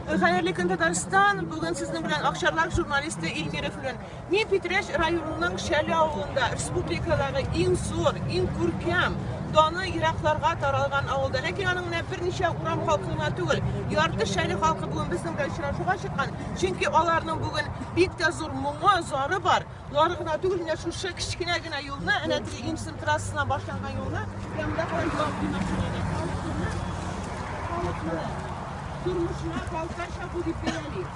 Хәерле көн Татарстан. Бүген сезнең белән Акчарлак журналисты Илмира Флүн. Мин Питрәч районының Шәле авылында, республикадагы иң зур, иң күркәм, даны еракларга таралган авылда. Ләкин аның менә берничә урам халкы гына түгел, ярты Шәле халкы бүген безнең белән очрашуга чыккан. Чөнки аларның бүген бик тә зур моңы, зары бар. Болары гына түгел, менә шушы кечкенә генә юлны, әнә теге Имсен трассасына башланган юлны, я монда калай юллар куймакчы иде. Халыкны, халыкны, тормышына халыкарча бу дип бәяли.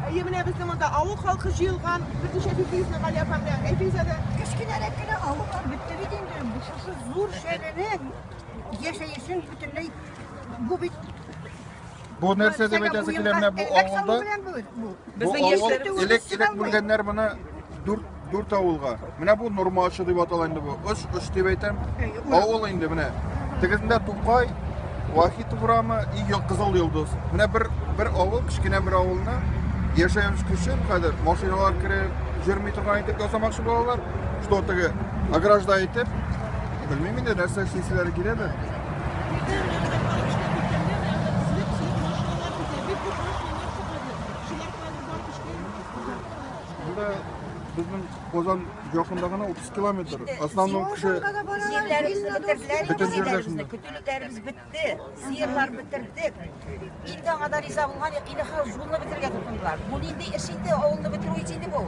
Әйе, менә безнең монда авыл халкы җыелган, берничә битегезне Гали апам белән әйтегез әле. Кечкенәрәк кенә авыллар бетте бит инде. Бу шушы зур шәһәрнең яшәешен бөтенләй бу бит Бу нәрсә дип әйтәсе килә менә бу авылда? Бу авыл элек элек бүлгәннәр моны дүрт дүрт авылга. Менә бу Нурмачы дип атала инде бу. Оч оч дип әйтәм. Авыл инде менә. Тегезендә Тукай, Вахит урамы и Кызыл Йолдыз. Менә бер бер авыл, кечкенә бер авылны яшәү өчен хәзер машиналар кереп, йөрми торган итеп ясамакчы булалар. Что теге огражда итеп, белмим инде нәрсә эшлиселәре киләдер. Безнең Казан якында гына 30 километр. Основном кеше Сиерләребезне бетерделәр. Бөтен җирләребезне. Көтүлекләребез бетте. Сиерлар бетердек. Инде аңа да риза булган юк. Инде хәзер зулны бетергә тотындылар. Бу нинди эш инде? Авылны бетерү ич инде бу.